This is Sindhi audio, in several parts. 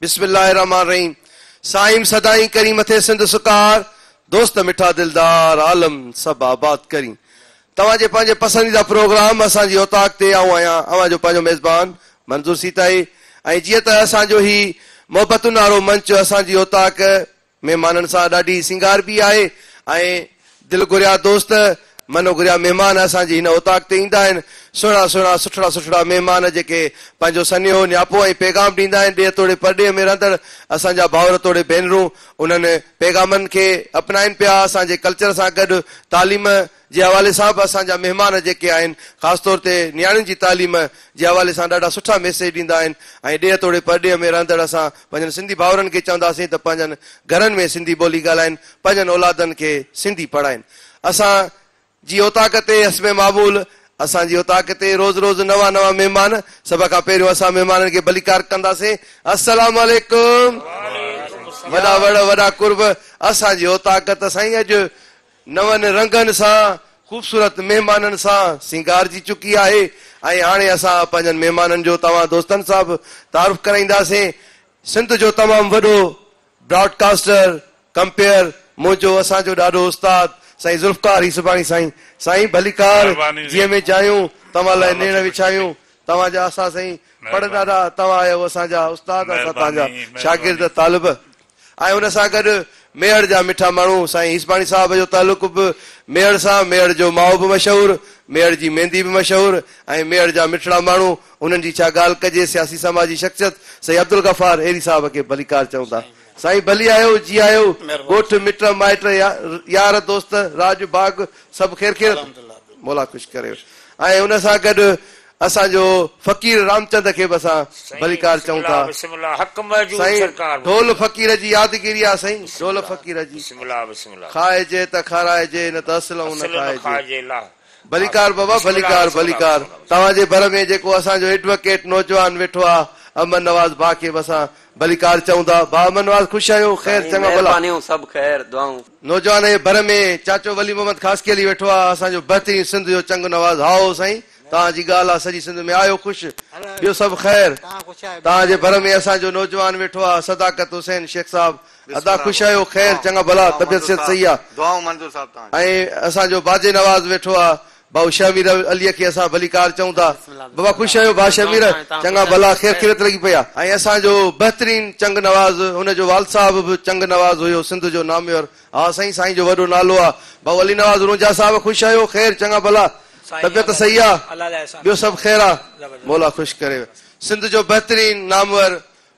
بسم الله الرحمن الرحيم سائين سدائين ڪرين مٿي سنڌ سڪار دوست مٺا دلدار عالم سڀ آباد ڪرين توهان جي پنهنجي پسنديده پروگرام اسان جي اوطاق تي آئون آهيان اوهان جو پنهنجو ميزبان منظور سيتائي ۽ جيئن ته اسان جو هي محبتن وارو منچ اسان جي اوطاق مهمانن سان ڏاڍي سينگاربي آهي ۽ دل گهريا دوست، من گهريا مهمان اسان جي هن اوطاق تي ايندا آهن. سهڻا سهڻا، سٺڙا سٺڙا مهمان جيڪي پنهنجو سنيهو، نياپو ۽ پيغام ڏيندا آهن. ڏيهه توڙي پرڏيهه ۾ رهندڙ اسان جا ڀائر توڙي ڀينرون انهن پيغامن کي اپنائين پيا، اسان جي ڪلچر سان گڏ تعليم، جي حوالي سان به اسان جا مهمان جيڪي آهن خاص طور تي نياڻين جي تعليم جي حوالي سان ڏاڍا سٺا ميسيج ڏيندا آهن ۽ ڏيهه توڙي پرڏيهه ۾ رهندڙ اسان پنهنجن سنڌي ڀائرن کي چونداسين ته پنهنجن گهرن ۾ سنڌي ٻولي ڳالهائين پنهنجن اولادن کي سنڌي پڙهائين اسان جي اوطاق تي حسب معمول اسان جي اوطاق تي روز روز نوان نوان مهمان سڀ کان پهريون اسان مهمانن کي ڀليڪار ڪنداسين السلام عليڪم وڏا وڙ وڏا قرب اسان جي اوطاق ته سائين اڄ نون رنگن سان خوبصورت مهمانن سان سينگارجي چڪي آهي ۽ هاڻي اسان پنهنجن مهمانن جو توهان دوستن سان به تعارف ڪرائينداسين. سنڌ جو تمام وڏو براڊ ڪاسٽر ڪمپيئر منهنجو اسان جو ڏاڏو استاد سائين ذوالفقار هيسباڻي سائين سائين ڀليڪار مهرباني جيء ۾ جايون توهان لاء نيڻ وڇايون توهان جا اسا سائين پڙ ڏاڏا توهان آهيو اسان جا استاد اسان توهان جا شاگرد طالب ۽ ان سان گڏ ميهڙ جا مٺا ماڻهو سائين هيسباڻي صاحب جو تعلق به ميهڙ سان، ميهڙ جو مائو به مشهور، ميهڙ جي ميندي به مشهور ۽ ميهڙ جا مٺڙا ماڻهو انهن جي ڇا ڳالهه ڪجي سياسي سماجي شخصيت سيد عبدالغفار ايري صاحب کي ڀليڪار چئون ٿا سائين ڀلي آيو جي آيو ڳوٺ مٽ مائٽ يار دوست راڄ باغ سڀ خير خيرت مولا خوش ڪريو ۽ ان سان گڏ اسان جو فقير رامچند کي به اسان ڀليڪار چئون ٿا سائين ڍول فقير جي يادگيري آ سائين ڍول فقير جي کائجي ته کارائجي نه ته اصلئون نه کائجي ڀليڪار بابا ڀليڪار ڀليڪار توهان جي ڀر ۾ جيڪو اسان جو ايڊوڪيٽ نوجوان ويٺو آ امن نواز ڀاء کي به اسان ڀليڪار چئون ٿا ڀاء امن نواز خوش آهيو خير چڱا ڀلا نوجوان جي ڀر ۾ چاچو ولي محمد خاصخيلي ويٺو آ اسان جو بهترين سنڌ جو چنگ نواز هائو سائين توهان جي ڳالهه آ سڄي سنڌ ۾ آهيو خوش ٻيو سڀ خير توهان جي ڀر ۾ اسان جو نوجوان ويٺو آ صداقت حسين شيخ صاحب ادا خوش آهيو خير چڱا ڀلا طبيعت صحت صحيح آ ۽ اسان جو باجي نواز ويٺو آ ڀائو شيخ امير علي کي اسان ڀليڪار چئون ٿا بابا خوش آهيو ڀاء شيخ امير چڱا ڀلا خير خيريت لڳي پئي آ ۽ اسان جو بهترين چنگ نواز هن جو والد صاحب به چنگ نواز هيو سنڌ جو ناميور ها سائين سائين جو وڏو نالو آ ڀائو علي نواز رونجها صاحب خوش آهيو خير چڱا ڀلا طبيعت صحيح آ ٻيو سڀ خير آ مولا خوش ڪري سنڌ جو بهترين نامور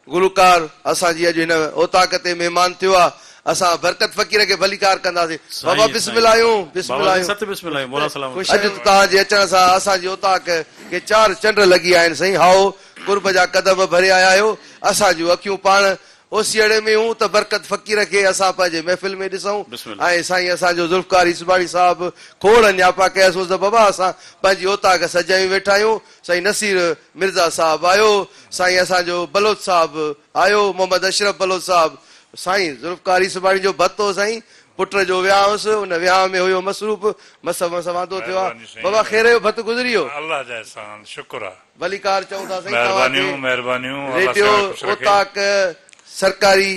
گلوڪار اسان جي اڄ هن اوطاق تي مهمان ٿيو آ اسان برڪت فقير کي ڀليڪار ڪنداسين بابا بسم الاهيون بسم الاهيون اڄ توهان جي اچڻ سان اسان جي اوطاق کي چار چنڊ لڳي آهن سائين هائو قرب جا قدم ڀري آيا آهيو اسان جون اکيون پاڻ اوسيئڙي ۾ هون ته برڪت فقير کي اسان پنهنجي محفل ۾ ڏسئون ۽ سائين اسان جو ذوالفقار عيسباڻي صاحب کوڙ نياپا ڪياسون ته بابا اسان پنهنجي اوطاق سجايون ويٺا آهيون سائين نصير مرزا صاحب آيو سائين اسان جو بلوچ صاحب آيو محمد اشرف بلوچ صاحب سائين ذوالفقار عيسباڻي جو ڀت هو سائين پٽ جو ويهان هوس ان ويهان ۾ هيو مصروف مس مس وانڌو ٿيو آ بابا خير جو ڀت گذري ويو. الله جا احسان شڪر آ. ڀليڪار چئون ٿا سائين توهان کي مهربانيون مهربانيون الله ريڊيو سيان خوش رکي. اوطاق سرڪاري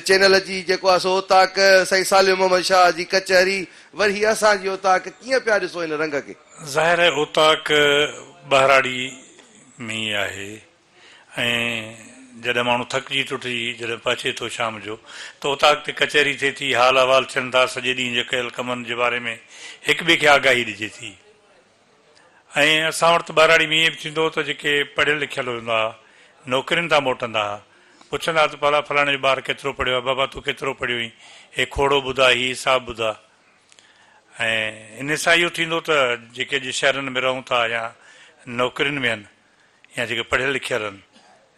چينل جي جيڪو آهي سو اوطاق سائين صالح محمد شاهه جي ڪچهري وري هي اسان جي اوطاق ڪيئن پيا ڏسو هن رنگ کي. ظاهر آهي اوطاق ٻهراڙي ۾ ئي آهي ۽ جڏهن ماڻهو ٿڪجي ٽٽجي جڏهن پهچي ٿو شام جو ته اوطاق تي ڪچهري ٿئي ٿي حال احوال ٿين ٿا سڄي ڏينهن جي ڪيل ڪمن جي باري ۾ هڪ ٻئي کي آگاهي ڏجي ٿي. ۽ اسان وٽ ته ٻهراڙي ۾ ائين به ٿيندو هو ته جيڪي پڙهيل لکيل هوندا ها، نوڪرين تان موٽندا ها، پڇندا ها ته ڀلا فلاڻي جو ٻار ڪيترو پڙهيو آهي، بابا تون ڪيترو پڙهيو هئين، هي کوڙو ٻڌاء، هي حساب ٻڌاء. ۽ ان سان اهو ٿيندو ته جيڪي اڄ شهرن ۾ رهون ٿا يا نوڪرين ۾ هن. يا جيڪي پڙهيل لکيل آهن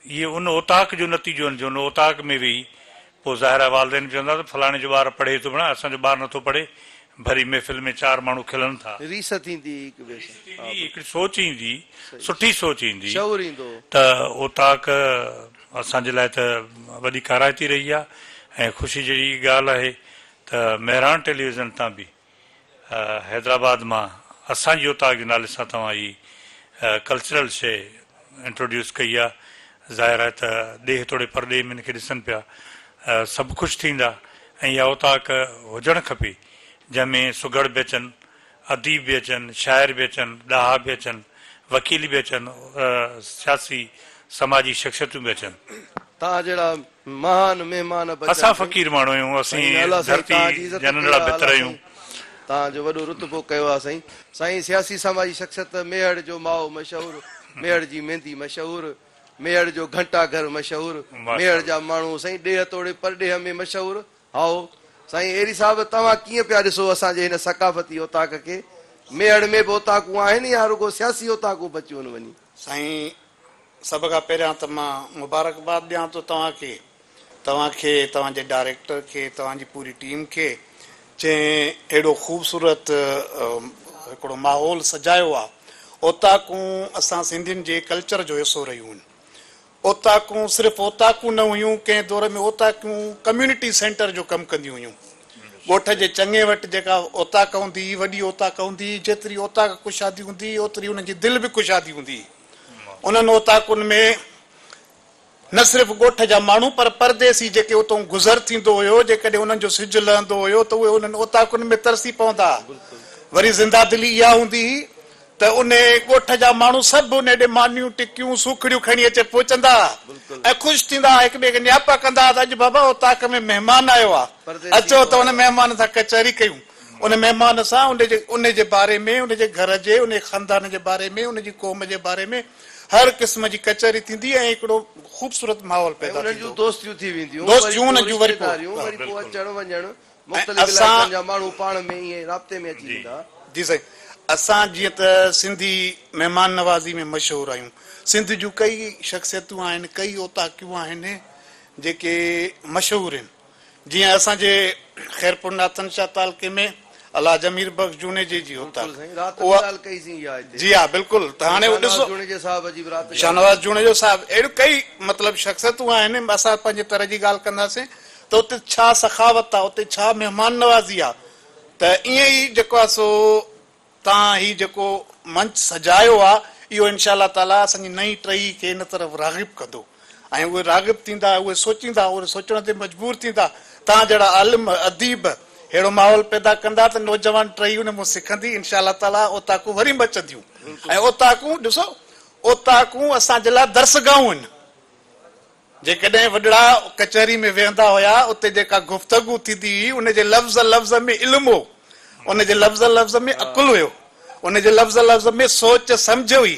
اهي ان اوطاق جو نتيجو آهن جو ان اوطاق ۾ ويهي پوء ظاهر آهي والدين به چوندا ته فلاڻي جو ٻار پڙهي ٿو ڀيڻا اسان جو ٻار نٿو پڙهي ڀري محفل ۾ چار ماڻهو کلن ٿا. ريس ٿيندي هڪ ٻئي سان. ريس ٿيندي هڪڙي سوچ ايندي سٺي سوچ ايندي ته اوطاق اسان جي لاء ته وڏي ڪارائتي رهي آهي ۽ خوشي جهڙي ڳالهه آهي ته مهراڻ ٽيليويزن تان به حيدرآباد مان اسان جي اوطاق جي نالي سان توهان هي ڪلچرل شيء انٽروڊيوس ڪئي آ ظاهر آهي ته ڏيهه توڙي پرڏيهه ۾ هن کي ڏسن پيا سڀ خوش ٿيندا ۽ اها اوطاق هجڻ کپي جنهن ۾ سگهڙ به اچن اديب به اچن شاعر به اچن ڏاها به اچن وڪيل به اچن سياسي سماجي شخصيتون به اچن. توهان جهڙا مهان مهمان بچن اسان ٿي. فقير ماڻهو آهيون، اسين سائين الله سائين ڌرتي تان جي عزت جا ڪئي ننڍڙا آ بتر اعليٰ آهيون. سائين تان جو وڏو رتبو ڪيو آ سائين. سائين سياسي سماجي شخصيت ميهڙ جو مائو مشهور ميهڙ جي ميندي مشهور ميهڙ جو گهنٽا گهر مشهور ميهڙ ماشاءالله. جا ماڻهو سائين ڏيهه توڙي پرڏيهه ۾ مشهور هائو سائين ايري صاحب توهان ڪيئن پيا ڏسو اسان جي هن ثقافتي اوطاق کي ميهڙ ۾ به اوطاقون آهن يا رڳو سياسي اوطاقون بچيون ان وڃي. سائين سڀ کان پهريان ته مان مبارڪباد ڏيان ٿو توهان کي توهان کي توهان جي ڊائريڪٽر کي توهان جي پوري ٽيم کي جنهن اهڙو خوبصورت هڪڙو ماحول سجايو آهي اوطاقون اسان سنڌين جي ڪلچر جو حصو رهيون آهن اوطاقون صرف اوطاقون نه هيون، ڪنهن دور ۾ اوطاقون ڪميونٽي سينٽر جو ڪم ڪنديون هيون. ڳوٺ جي چڱي وٽ جيڪا اوطاق هوندي هئي، وڏي اوطاق هوندي هئي، جيتري اوطاق ڪشادي هوندي هئي، اوتري انهن جي دل به ڪشادي هوندي هئي. انهن اوطاقن ۾ نه صرف ڳوٺ جا ماڻهو پر پرديسي جيڪي اتئون گذر ٿيندو هيو، جيڪڏهن انهن جو سج لهندو هيو ته اهي انهن اوطاقن ۾ ترسي پوندا ها. وري زنده دلي اها هوندي هئي ته انهيء ڳوٺ جا ماڻهو سڀ انهيء ڏي مانيون، ٽڪيون، سوکڙيون کڻي اچي پهچندا ها ۽ خوش ٿيندا ها، هڪٻئي کي نياپا ڪندا ها ته اڄ بابا اوطاق ۾ مهمان آيو آ، اچو ته ان مهمان سان ڪچهري ڪيون. ان مهمان سان انهيء جي باري ۾، ان جي گهر جي، انهيء خاندان جي باري ۾، ان جي قوم جي باري ۾ هر قسم جي ڪچهري ٿيندي ۽ هڪڙو خوبصورت ماحول پيدا ٿيندو. دوستيون وري پوء رشتيداريون، وري پوء اچڻ وڃڻ، مختلف علائقن جا ماڻهو پاڻ ۾ ائين رابطي ۾ اچي ويندا. جي سائين اسان جيئن ته سنڌي مهمان نوازي ۾ مشهور آهيون سنڌ جون ڪئي شخصيتون آهن ڪئي اوطاقيون آهن جيڪي مشهور آهن جيئن اسان جي خيرپور ناٿن شاهه تعلقي ۾ الحاج امير بخش جوڻيجي جي اوطاق اها جي ها بلڪل ته هاڻي اهو ڏسو شاهنواز جوڻيجو صاحب اهڙيون ڪئي مطلب شخصيتون آهن اسان پنهنجي طرح جي ڳالهه ڪنداسين ته اتي ڇا سخاوت آ، اتي ڇا مهمان نوازي آ ته ائين ئي جيڪو آ سو تان هي جيڪو منچ سجايو آ اهو انشاء الله تعاليٰ اسان جي نئين ٽهي کي ان طرف راغب ڪندو ۽ اهي راغب ٿيندا اهي سوچيندا اهي سوچڻ تي مجبور ٿيندا تان جهڙا عالم اديب ههڙو ماحول پيدا ڪندا ته نوجوان ٽهي ان مون سکندي انشاء الله تعاليٰ اوطاقون وري مچنديون ۽ اوطاقون ڏسو اوطاقون اسان جي لاء درسگاهون آهن جيڪڏهن وڏڙا ڪچهري ۾ ويهندا هيا، اتي جيڪا گفتگو ٿيندي هئي، ان جي لفظ لفظ ۾ علم هو، ان جي لفظ لفظ ۾ عقل هيو، ان جي لفظ لفظ ۾ سوچ سمجهه هئي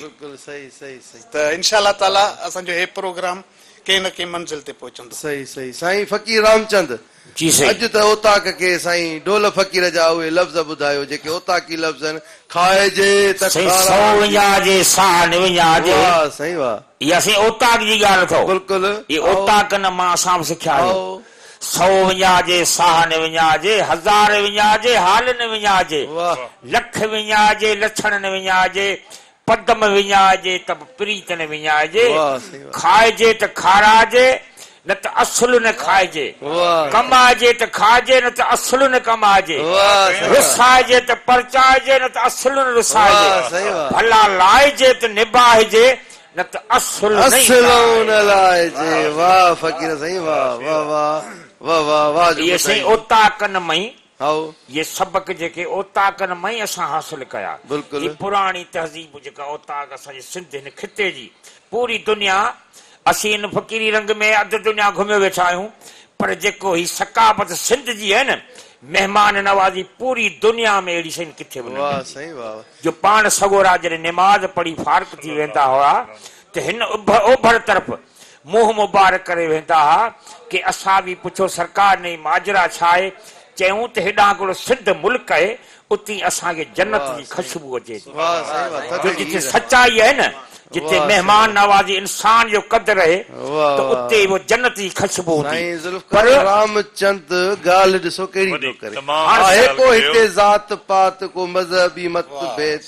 ته انشاء الله تعاليٰ اسان جو هي پروگرام ڪنهن نه ڪنهن منزل تي پهچندو. صحيح صحيح سائين فقير رامچند جي سائين. اڄ ته اوطاق کي سائين ڍول فقير جا اهي لفظ ٻڌايو جيڪي اوطاقي لفظن کائجي ته سائين کارا سو ٿي وڃان جي سان وڃان جي واه سائين واه. اها سائين اوطاق جي ڳالهه اٿئو بلڪل اهي هائو اوطاقن مان اسان به سکيا آهيون هائو. سو وڃان جي سان وڃان جي هزار وڃان جي حالن وڃان جي واه. لک وڃان جي لڇڻن وڃان جي پدم وڃائجي ته به پريت نه وڃائجي، کائجي ته کارائجي نه ته اصل نه کائجي، ڪمائجي ته کائجي نه ته اصل نه ڪمائجي، رسائجي ته پرچائجي نه ته اصل نه رسائجي، ڀلا لائجي ته نباهجي نه ته اصل نه لائجي. اي سائين اوطاقن مئي هائو. اهي سبق جيڪي اوطاقن مان ئي اسان حاصل ڪيا. بلڪل. هي پراڻي تهذيب جيڪا اوطاق اسان جي سنڌ هن خطي جي پوري دنيا اسين ان فقيري رنگ ۾ اڌ دنيا گهميو ويٺا آهيون پر جيڪو هي ثقافت سنڌ جي آهي نه مهمان نوازي پوري دنيا ۾ اهڙي شين ڪٿي به نه واهه ملندي سائين واهه. جو پاڻ سڳورا جڏهن نماز پڙهي فارغ ٿي ويندا هئا ته هن اڀر اوڀر طرف منهن مبارڪ ڪري ويندا ها ڪي اسان به پڇو سرڪار نه هي ماجرا ڇا آهي چيون ته هيڏانهن ڪڙو سنڌ ملڪ اهي اتي اسان کي جنت جي خشبو اچي ٿي جو جتي سچائي اهي نه جتي مهمان نوازي انسان جو قدر اهي ته اتي به جنت جي خشبو هوندي پر رامچند ڳالهه ڏسو ڪهڙي ٿو ڪري آهي ڪو هتي ذات پات ڪو مذهبي مت ڀيد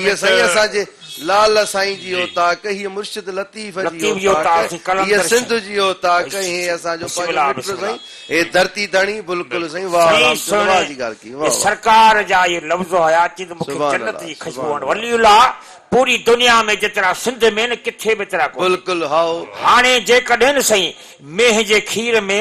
هي سائين اسان جي لعل سائين جي اوطاق، هيء مرشد لطيف جي اوطاق، هيء سنڌ جي اوطاق ۽ هي اسان جو پنهنجو مٽ سائين، هي ڌرتي ڌڻي، بلڪل سائين واهه رام چند واهه جي ڳالهه ڪئي واهه واهه. سرڪار جا اهي لفظ هيا اچي ته مونکي جنت جي خوشبو هڻ ولي الله پوري دنيا ۾ جيترا سنڌ ۾ نه ڪٿي به ايترا ڪونهن. بلڪل هائو. هاڻي جيڪڏهن سائين مينهن جي کير ۾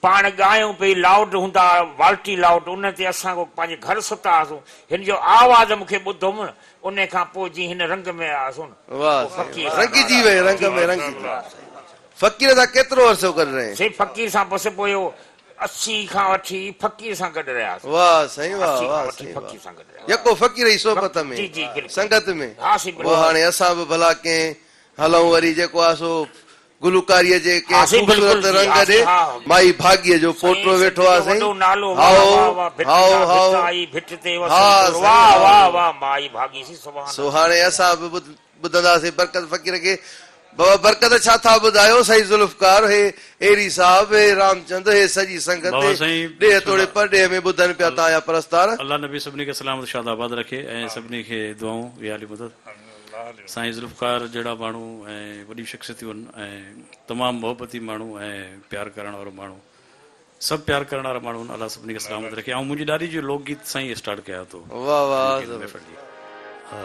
پاڻ ڳايون پئي لائوڊ هوندا ها والٽي لائوڊ ان تي اسان ڪو پنهنجي گهر ستا هئاسون هن جو آواز مون کي ٻڌوم ان کان پوء جي هن رنگ ۾ آياسون واھ سائين واھ رنگجي وئي رنگ ۾ رنگجي وئي فقير سان ڪيترو عرصو گڏ رهين. سائين فقير سان بس پوء اسي کان وٺي فقير سان گڏ رهياسون واھ سائين واھ اسي کان واھ وٺي سائين واھ فقير سان گڏ رهياسون يڪو فقير جي صحبت ۾ جي جي بلڪل سنگت ۾ ها سائين پوء بلڪل هاڻي اسان به ڀلا ڪئين هلون وري جيڪو آ سو گلوڪاريء جي ڪنهن خوبصورت رنگ ڏي مائي ڀاڳيء جو پوٽو ويٺو آ سائين. هائو، هائو، هائو، ها سائين هائو. سو هاڻي اسان به ٻڌنداسين برڪت فقير کي. بابا برڪت ڇا ٿا ٻڌايو سائين ذوالفقار، هي ايري صاحب، هي رامچند، هي سڄي سنگت ڏيهه توڙي پرڏيهه ۾ ٻڌن پيا تان جا پرستار. الله نبي سڀني کي سلامت شاد آباد رکي ۽ سڀني کي دعائون يا علي مدد. سائين ذوالفقار جهڙا ماڻهو ۽ وڏيون شخصيتون هن ۽ تمام محبتي ماڻهو ۽ پيار ڪرڻ وارو ماڻهو سڀ پيار ڪرڻ وارا ماڻهو هن الله سڀني کي سلامت رکي آئون منهنجي ڏاڏي جو لوڪ گيت سان ئي اسٽارٽ ڪيان ٿو واه واه محفل جي آ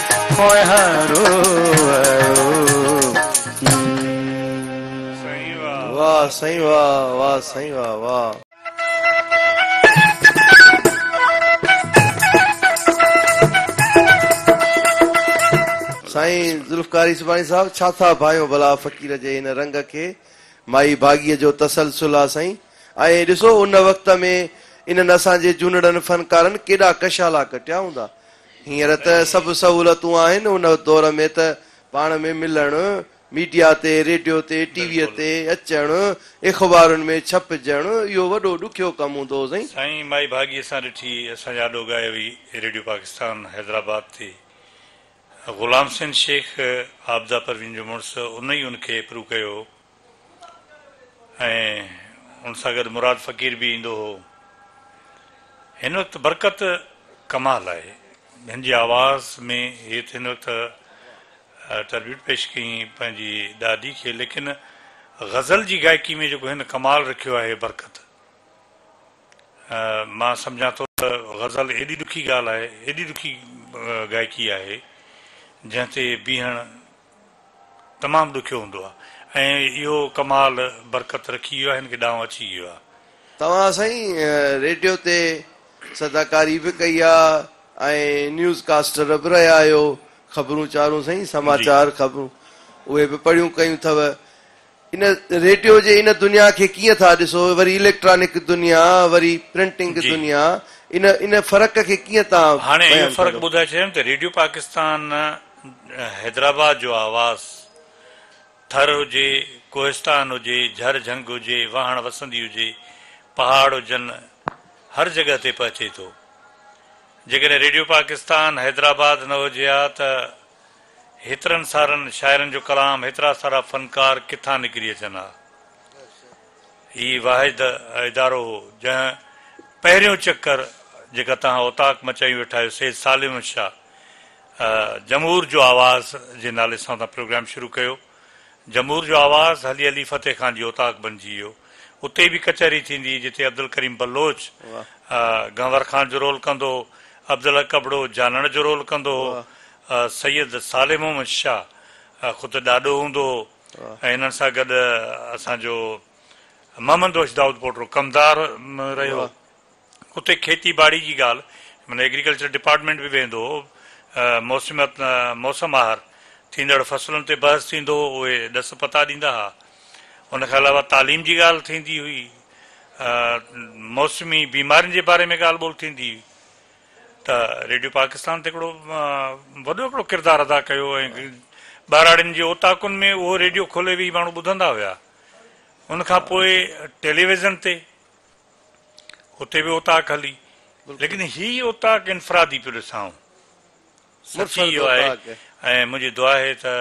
ڦوهارو آيو سائين ذوالفقار يوسفاڻي صاحب ڇا ٿا ڀانيو ڀلا فقير جي ان رنگ کي مائي ڀاڳيء جو تسلسل آ سائين ۽ ڏسو ان وقت ۾ انهن اسان جي جونڙن فنڪارن ڪيڏا ڪشالا ڪٽيا هوندا هينئر ته سڀ سهولتون آهن ان دور ۾ ته پاڻ ۾ ملڻ، ميڊيا تي، ريڊيو تي، ٽي ويء تي اچڻ، اخبارن ۾ ڇپجڻ اهو وڏو ڏکيو ڪم هوندو هو سائين. سائين مائي ڀاڳي اسان ڏٺي اسان جي آڏو ڳائي هئي ريڊيو پاڪستان حيدرآباد تي غلام حسين شيخ عابده پروين جو مڙس ان ئي ان کي پرو ڪيو هو. ۽ ان سان گڏ مراد فقير به ايندو هو. هن وقت برڪت ڪمال آهي. هن جي آواز ۾ هي ته هن وقت ٽربيوٽ پيش ڪيائين پنهنجي ڏاڏي کي ليڪن غزل جي گائڪي ۾ جيڪو هن ڪمال رکيو آهي برڪت مان سمجهان ٿو ته غزل ايڏي ڏکي ڳالهه آهي ايڏي ڏکي گائڪي آهي جنهن تي بيهڻ تمام ڏکيو هوندو آهي ۽ اهو ڪمال برڪت رکي ويو آهي هن کي ڏانء اچي ويو آهي. توهان سائين ريڊيو تي صداڪاري به ڪئي آ ۽ نيوز ڪاسٽر به رهيا آهيو خبرون چارون سائين سماچار خبرون اهي به پڙهيون ڪيون ٿئو ان ريڊيو جي ان دنيا کي ڪيئن ٿا ڏسو وري اليڪٽرانڪ دنيا وري پرنٽنگ جي دنيا ان ان فرق کي ڪيئن تان هاڻي اهو بيان فرق ڪندو. ٻڌائي ڇڏيم ته ريڊيو پاڪستان حيدرآباد جو آواز ٿر هجي ڪوهستان هجي جهر جهنگ هجي واهڻ وسندي هجي پهاڙ هجن هر جڳهه تي پهچي ٿو جيڪڏهن ريڊيو پاڪستان حيدرآباد نه هجي ها ته هيترن سارن شاعرن جو ڪلام، هيترا سارا فنڪار ڪٿان نڪري اچن ها. هي واحد ادارو هو، جنهن پهريون چڪر جيڪا توهان اوطاق مچائي ويٺا آهيو، سيد سالم شاهه جمهور جو آواز جي نالي سان تان پروگرام شروع ڪيو. جمهور جو آواز هلي هلي فتح خان جي اوطاق بنجي ويو. اتي به ڪچهري ٿيندي جتي عبدالڪريم بلوچ گهنور خان جو رول ڪندو هو، عبدالحق ابڙو جانڻ جو رول ڪندو هو، سيد صالح محمد شاهه خود ڏاڏو هوندو هو ۽ هنن سان گڏ اسان جو محمد بخش دائودپوٽو ڪمدار رهيو. اتي کيتي ٻاڙي جي ڳالهه معنيٰ ايگريڪلچر ڊپارٽمينٽ به ويندو هو، موسم موسم آهر ٿيندڙ فصلن تي بحث ٿيندو هو، اهي ڏس پتا ڏيندا ها. ان کان علاوه تعليم جي ڳالهه ٿيندي هئي، موسمي بيمارين جي باري ۾ ڳالهه ٻولهه ٿيندي هئي ته ريڊيو پاڪستان ته هڪڙو وڏو هڪڙو ڪردار ادا ڪيو ۽ ٻهراڙين جي اوطاقن ۾ اهو ريڊيو کولي ويهي ماڻهو ٻڌندا هيا. ان کان پوء ٽيليويزن تي. اتي به اوطاق هلي ليڪن هي اوطاق انفرادي پيو ڏسان آئون سچي اهو آهي ۽ منهنجي دعا آهي ته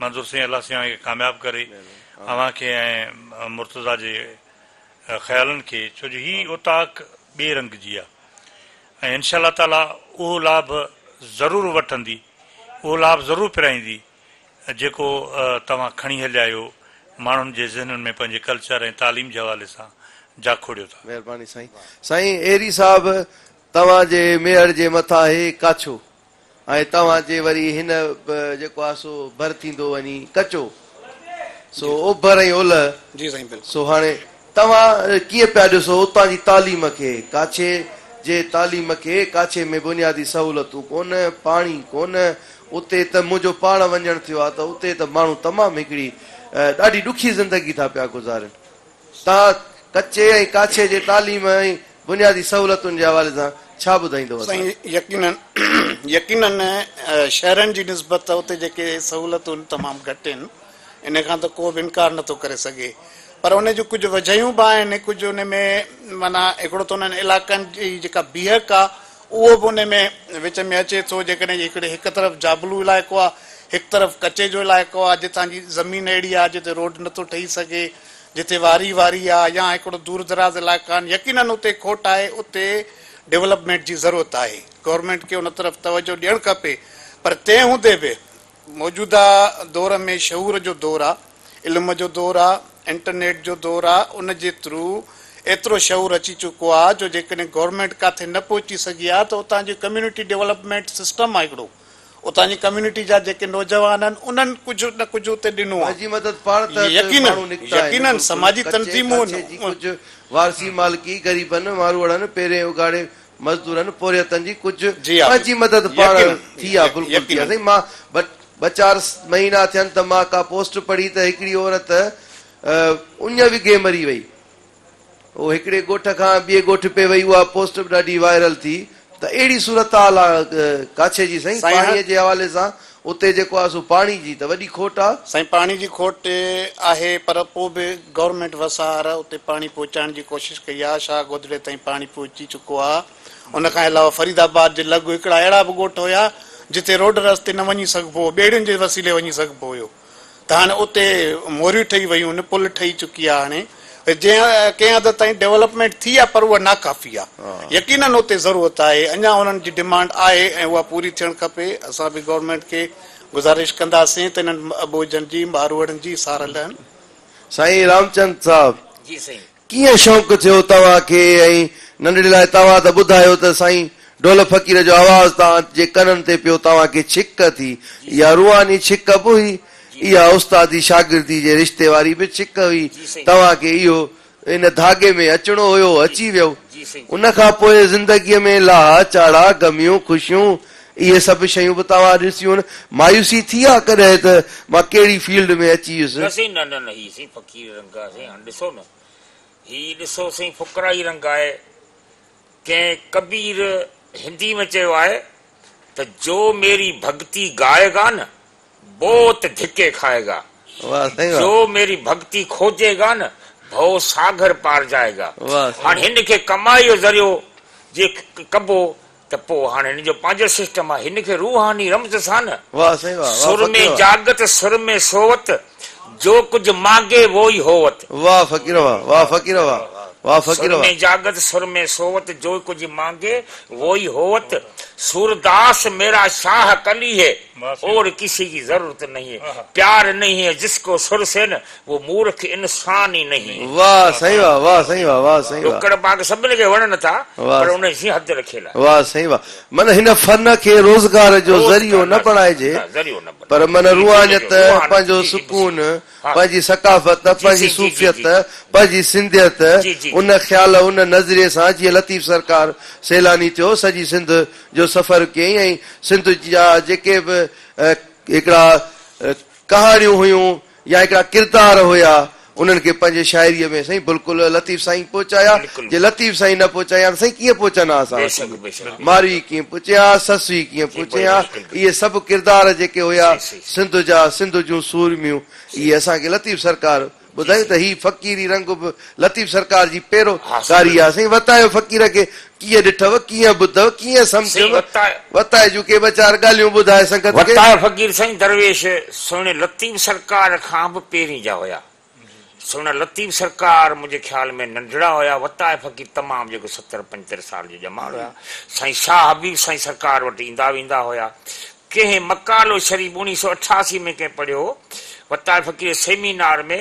منظور سائين الله سائين اوهان کي ڪامياب ڪري اوهان کي ۽ مرتضيٰ جي خيالن کي ڇو جو هي اوطاق ٻئي رنگ جي آهي ۽ انشاء الله تعاليٰ اهو لاڀ ضرور وٺندي اهو لاڀ ضرور پرائيندي جيڪو توهان کڻي هليا آهيو ماڻهن جي ذهنن ۾ پنهنجي ڪلچر ۽ تعليم جي حوالي سان جاکوڙيو ٿا. مهرباني سائين. سائين ايري صاحب توهان جي ميهڙ جي مٿان هي ڪاڇو ۽ توهان جي وري هن به جيڪو آهي سو ڀر ٿيندو وڃي ڪچو سو اوڀر ۽ اولهه سو هاڻي توهان ڪيئن پيا ڏسو اتان جي تعليم کي؟ ڪاڇي جي تعليم کي؟ ڪاڇي ۾ بنيادي سهولتون ڪونه، پاڻي ڪونه، اتي ته منهنجو پاڻ وڃڻ ٿيو آهي ته اتي ته ماڻهو تمام هڪڙي ڏاڍي ڏکي زندگي ٿا پيا گذارين. تان ڪچي ۽ ڪاڇي جي تعليم ۽ بنيادي سهولتن جي حوالي سان ڇا ٻڌائيندو اسان کي؟ سائين يقينن يقينن شهرن جي نسبت اتي جيڪي سهولتون آهن تمام گهٽ آهن ان کان ته ڪو به انڪار نه ٿو ڪري سگهي پر ان جون ڪجهه وجهيون به آهن ڪجهه ان ۾ معنيٰ هڪڙو ته انهن علائقن جي جيڪا بيهڪ آهي اهو به ان ۾ وچ ۾ اچي ٿو جيڪڏهن هڪڙي هڪ طرف جابلو علائقو آهي هڪ طرف ڪچي جو علائقو آهي جتان جي زمين اهڙي آهي جتي روڊ نه ٿو ٺهي سگهي جتي واري واري آهي يا هڪڙو دور دراز علائقا آهن يقينن اتي کوٽ آهي اتي ڊولپمينٽ جي ضرورت آهي گورنمينٽ کي ان طرف توجهه ڏيڻ کپي پر تنهن هوندي به موجوده دور ۾ شعور جو دور آ، علم جو دور آ، انٽرنيٽ جو دور آ، ان جي ٿرو ايترو شعور اچي چڪو آ جو جيڪڏهن گورنمينٽ ڪاٿي نه پهچي سگهي آ ته اتان جي ڪميونٽي ڊولپمينٽ سسٽم آ هڪڙو اتان جي ڪميونٽي جا جيڪي نوجوان آهن انهن ڪجهه نه ڪجهه اتي ڏنو آ. جي مدد پاڻ تحت يقينن ماڻهو نڪتا آهن يقينن بلڪل سماجي ڪچي تنظيمون ڪاڇي جي ڪجهه وارثي مالڪي غريبن ماروئڙن پيرين اگهاڙي مزدورن پورهيتن جي ڪجهه جي آ پنهنجي مدد پاڻ يقينن ٿي آ بلڪل ٿي آ يقينن. سائين مان ٻه ٻه چار مهينا ٿين ته مان ڪا پوسٽ پڙهي ته هڪڙي عورت اڃ وگهي مري وئي هو هڪڙي ڳوٺ کان ٻئي ڳوٺ پئي وئي اها پوسٽ به ڏاڍي وائرل ٿي ته اهڙي صورتحال آ ڪاڇي جي سائين سائين پاڻي هن جي حوالي سان اتي جيڪو آهي سو پاڻي جي ته وڏي کوٽ آ. سائين پاڻي جي کوٽ آهي پر پو به گورنمينٽ وسار اتي پاڻي پهچائڻ جي ڪوشش ڪئي آ شاهه گودڙي تائين پاڻي پهچي چڪو آ ان کان علاوه فريد آباد جي لڳ هڪڙا اهڙا به ڳوٺ هيا جتي روڊ رستي نه وڃي سگهبو هو ٻيڙين جي وسيلي وڃي سگهبو هيو ته هاڻي اتي موريون ٺهي ويون آهن، پل ٺهي چڪي آهي هاڻي، جنهن ڪنهن حد تائين ڊولپمينٽ ٿي آهي پر اها ناڪافي آهي. يقينن اتي ضرورت آهي، اڃا انهن جي ڊمانڊ آهي ۽ اها پوري ٿيڻ کپي. اسان به گورنمينٽ کي گذارش ڪنداسين ته انهن اٻوجهن جي، ماروئڙن جي سار لهن. سائين رامچند صاحب ڪيئن شوق ٿيو توهان کي ۽ ننڍڙي لاء توهان ته ٻڌايو ته سائين ڍول فقير جو آواز توهان جي ڪنن تي پيو توهان کي ڇڪ ٿي اها روحاني ڇڪ به هئي اها استادي شاگردي جي رشتي واري به ڇڪ هئي توهان کي اهو ان ڌاڳي ۾ اچڻو هيو اچي ويو ان کان پوء زندگي ۾ لاها چاڙها غميون خوشيون اهي سڀ شيون به توهان ڏسيون. مايوسي ٿي ها ڪڏهن ته مان ڪهڙي فيلڊ ۾ اچي ويس. نه سائين نه نه نه هي سائين فقير رنگ آهي سائين هاڻ ڏسو نه هي ڏسو سائين فقرائي رنگ آهي ڪنهن ڪبير هندي ۾ چيو آهي ته جو ميري ڀڳتي گائي گا نه بوت ڌڪي کائي گا جو ميري ڀڳتي کوجي گا نه ڀو ساگر پار جائي گا هاڻ هن کي ڪمائي جو ذريعو جي ڪبو ته پوء هاڻ هن جو پنهنجو سسٽم آهي، هن کي روحاني رمز سان نه. واهه سائين واهه واهه سر فقير ۾ واهه. جاڳت سر ۾ سووت، جو ڪجهه مانگي وو ئي هووت. واهه فقير واهه واهه فقير واهه واهه فقير سر واهه. ۾ جاڳت سر ۾ سووت، جو ڪجهه مانگي وو ئي هووت. سورداس ميرا شاهه ڪلي هي، اور ڪسي ڪي ضرورت نهين هي. پيار نهين هي جس ڪو سر سين، وو مورک انسان ئي نهين. واه سائين واه واه سائين واه واه سائين واه. ڏکڙ پاڪ سڀني کي وڻن ٿا پر انهي جي حد رکيل آهي. واه سائين واه من هن فن کي روزگار جو ذريعو نه بڻائجي پر من روحانيت پنهنجو سڪون پنهنجي ثقافت پنهنجي صوفيت پنهنجي سنڌيت ان خيال ان نظريي سان جيئن لطيف سرڪار سيلاني ٿيو سڄي سنڌ جو سفر ڪيائين ۽ سنڌ جا جيڪي به هڪڙا ڪهاڻيون هيون يا هڪڙا ڪردار هيا انهن کي پنهنجي شاعريء ۾ سائين بلڪل لطيف سائين پهچايا جي لطيف سائين نه پهچايا ها ته سائين ڪيئن پهچن ها اسان وٽ اهي ماروي ڪيئن پهچين ها سس هي ڪيئن پهچين ها اهي سڀ ڪردار جيڪي هيا سنڌ جا سنڌ جون سورميون اهي اسان کي لطيف سرڪار ٻڌايون ته هي فقيري رنگ به لطيف سرڪار جي پيرو ڪاري آهي سائين وتايو فقير کي ڪيئن ڏٺئو، ڪيئن ٻڌئو، ڪيئن سمجهيو، وتاء جون ڪي ٻه چار ڳالهيون ٻڌاء سنگت کي. وتاء فقير سائين درويش سهڻي لطيف سرڪار کان به پهرين جا هيا. سهڻا لطيف سرڪار منهنجي خيال ۾ ننڍڙا هيا، وتاء فقير تمام جيڪو ستر پنجتر سال جو ڄمار هيا، سائين شاهه حبيب سائين سرڪار وٽ ايندا ويندا هيا. ڪنهن مقالو شريف اڻيهه سؤ اٺاسي ۾ ڪنهن پڙهيو هو، وتاء فقير سيمينار ۾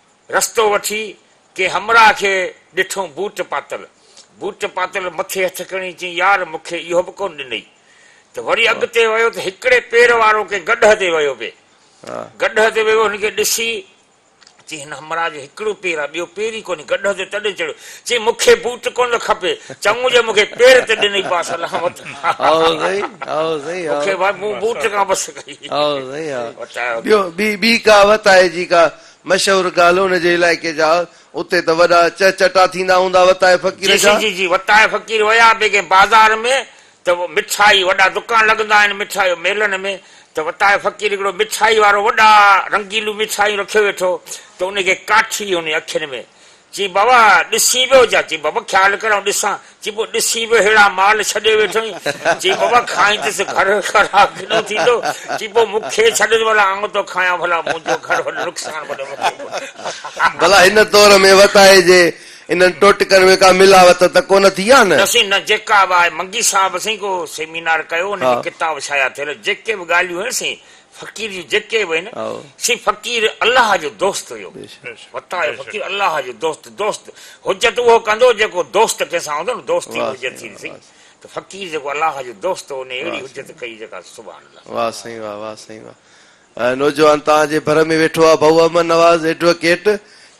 رستو وٺي ڪنهن همراهه کي ڏٺم بوٽ پاتل. بوٽ پاتل مٿي هٿ کڻي چيائين يار مون کي اهو به ڪونه ڏنئي. ته وري اڳتي ويو ته هڪڙي پير وارو ڪنهن گڏهه تي ويو پئي. گڏهه تي ويو هن کي ڏسي چيائين هن همراهه جو هڪڙو پير آهي ٻيو پير ئي ڪونهي گڏهه تي تڏهن چڙهيو. چيائين مون کي بوٽ ڪونه ٿو کپي چڱو جو مون کي پير ته ڏنئي پاسل هان وٽ مون کي مون بوٽ کان بس ڪئي. ٻيو ٻي ڪا وت آهي جيڪا مشهور ڳالهه ان جي علائقي جا اتي ته وڏا چه چٽا ٿيندا هوندا وتائي فقير جا. جي جي جي وتائي فقير ويا به ڪنهن بازار ۾ ته مٺائي وڏا دڪان لڳندا آهن مٺائي ميلن ۾ ته وتائي فقير هڪڙو مٺائي وارو وڏا رنگيلون مٺايون رکيو ويٺو ته ان کي ڪاٺي هن اکين ۾ چي بابا ڏسين به جا چي بابا خيال ڪر آئون ڏسان چي پوء ڏسين به ههڙا مال ڇڏي ويٺو آهين چي بابا کائيندس گهر خراب ڪيڏو ٿيندو چي پوء مون کي ڇڏيس ڀلا آئون ٿو کايان ڀلا منهنجو گهر وڏو نقصان وڏو مون کي ڪو ڀلا هن دور ۾ وتايي جي انهن ٽوٽڪن ۾ ڪا ملاوت ته ڪونه ٿي آهي نه؟ نه سائين نه جيڪا به آهي منگي صاحب سائين ڪو سيمينار ڪيو ان جي ڪتاب شايع ٿيل جيڪي به ڳالهيون آهن سائين فقير جي جيڪي به هين سي فقير الله جو دوست هيو وتاء جو فقير الله جو دوست دوست حجت اهو ڪندو جيڪو دوست ڪنهن سان هوندو نه دوستي به حجت ٿي سهي ته فقير جيڪو الله جو دوست هو انهي اهڙي حجت ڪئي جيڪا سبحان الله واه سائين واه واه سائين واه نوجوان توهان جي ڀر ۾ ويٺو آهي ڀائو احمد نواز ايڊوڪيٽ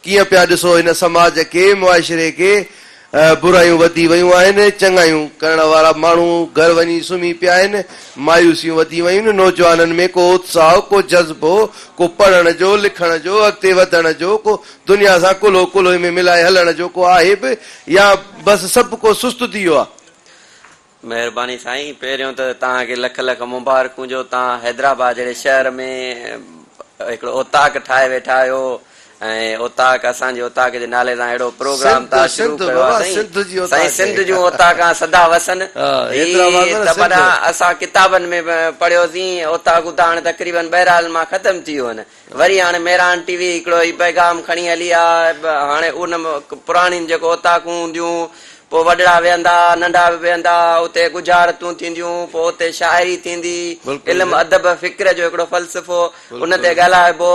ڪيئن پيا ڏسو هن سماج کي، معاشري کي، برايون وڌي ويون آهن، چڱايون ڪرڻ وارا ماڻهو گهر وڃي سمهي پيا آهن، مايوسيون وڌي ويون، نوجوانن ۾ ڪو اتساهه، ڪو جذبو، ڪو پڙهڻ جو، لکڻ جو، اڳتي وڌڻ جو، ڪو دنيا سان ڪلهو ڪلهي ۾ ملائي هلڻ جو ڪو آهي به يا بس سڀ ڪو سست ٿي ويو آهي. مهرباني سائين پهريون ته توهان کي لک لک مبارڪون جو توهان حيدرآباد جهڙي شهر ۾ هڪڙو اوطاق ٺاهي ويٺا آهيو ۽ اوطاق اسان جي اوطاق جي نالي سان اهڙو پروگرام سنڌ توهان شروع سنڌ ڪيو آهي بابا سائين سنڌ جي سائين اوطاق سنڌ جون اوطاقان سدا وسن ها هي حيدرآباد نه ته سنڌ پران اسان ڪتابن ۾ به پڙهيوسين اوطاقون ته هاڻي تقريبن ٻهرحال مان ختم ٿي ويون آهن وري هاڻي ميران ٽي وي هڪڙو هي پيغام کڻي هلي ها هاڻي ان پراڻين جيڪو اوطاقون هونديون پوء وڏڙا ويهندا ننڍا به ويهندا اتي ڳجهارتون ٿينديون پوء اتي شاعري ٿيندي علم ادب فڪر جو هڪڙو فلسفو ان تي ڳالهائبو